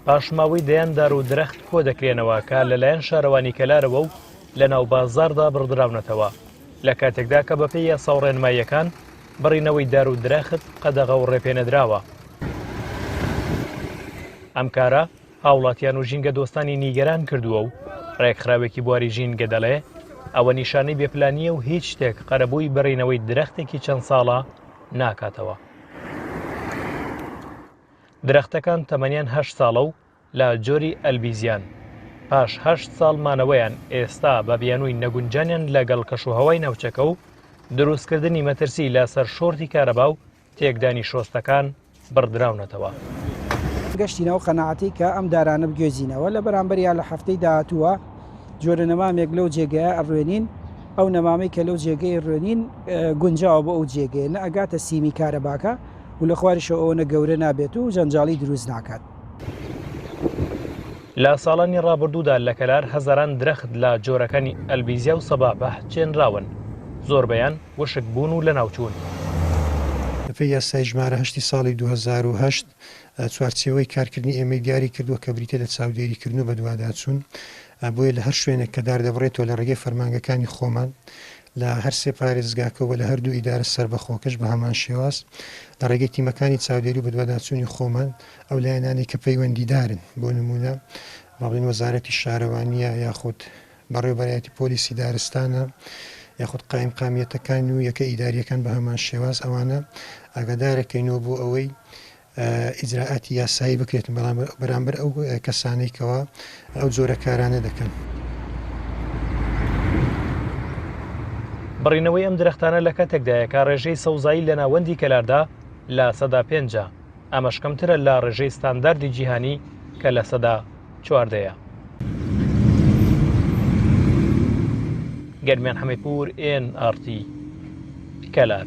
پاشماوەی دەیان دار و درەخت کۆ دەکرێنەوە کە لەلایەن شارەوانی کەلارەوە و لە ناو بازاردا بڕدراونەتەوە لە کاتێکدا کە بەپێی یاسا و ڕێنماییەکان بڕینەوەی دار و درەخت قەدەغە و ڕێپێنەدراوە ئەم کارە هاوڵاتیان و ژینگە دۆستانی نیگەران کردووە و ڕێکخراوێکی بواری ژینگە دەڵێ ئەوە نیشانەی بێپلانیە و هیچ شتێک قەرەبووی بڕینەوەی درەختێکی چەند ساڵە ناکاتەوە. درەختەکان تەمەنیان هەشت ساڵە و لە جۆری ئەلبیزیان، پاش هەشت ساڵ مانەوەیان ئێستا بە بیانووی نەگونجانیان لەگەڵ کەشوهەوای ناوچەکە و دروستکردنی مەترسی لە سەر شۆرتی کارەبا و تێکدانی شۆستەکان، بڕدراونەتەوە. گەشتینەوە قەناعەتی کە ئەم دارانە بگوێزینەوە لە بەرامبەریا لە هەفتەی داهاتووە جۆرە نەمامێک لەو جێگەیە ئەڕوێنین ئەو نەمامی کە لەو جێگەی ڕوێنین گونجاوە بۆ ئەو جێگەیە نە ئەگاتە سیمی کارەباکە و لە خواریشەوە ئەوەنە گەورە نابێت و جەنجاڵی دروست ناکات. لە ساڵانی ڕابردوودا لە کەلار هەزاران درەخت لە جۆرەکانی ئەلبیزیا و سەبابەه چێنراون، زۆربەیان وشکبوون و لەناوچوون. بەپێی یاسای ژمارە هەشتی ساڵی دوو هەزار و هەشت، چوارچێوەی کارکردنی ئێمەی دیاری کردووە کە بریتیە لە چاودێریکردن و بەدواداچوون، بۆیە لە هەر شوێنێک کە دار دەبڕێتەوە لە ڕێگەی فەرمانگەکانی خۆمان لە هەر سێ پارێزگاکە و لە هەردوو ئیدارە سەربەخۆکەش بە هەمان شێواز لە ڕێگەی تیمەکانی چاودێری و بەدواداچوونی خۆمان ئەو لایەنانەی کە پەیوەندیدارن بۆ نموونە با بڵێین وەزارەتی شارەوانییە یاخود بەڕێوەبەرایەتی پۆلیسی دارستانە یاخود قایمقامیەتەکان و یەکە ئیدارییەکان بە هەمان شێواز ئەوانە ئاگادارەکەینەوە بۆ ئەوەی ئیجرائاتی یاسایی بکرێت بەرامبەر ئەو کەسانەی کەوا ئەو جۆرە کارانە دەکەن. بڕینەوەی ئەم درەختانە لە کاتێکدایە کە ڕێژەی سەوزایی لە ناوەندی کەلاردا لە سەدا پێنجە، ئەمەش کەمترە لە ڕێژەی ستانداردی جیهانی کە لە سەدا چواردەیە. گەرمیان حەمەیپوور ئێن ئارتی کەلار.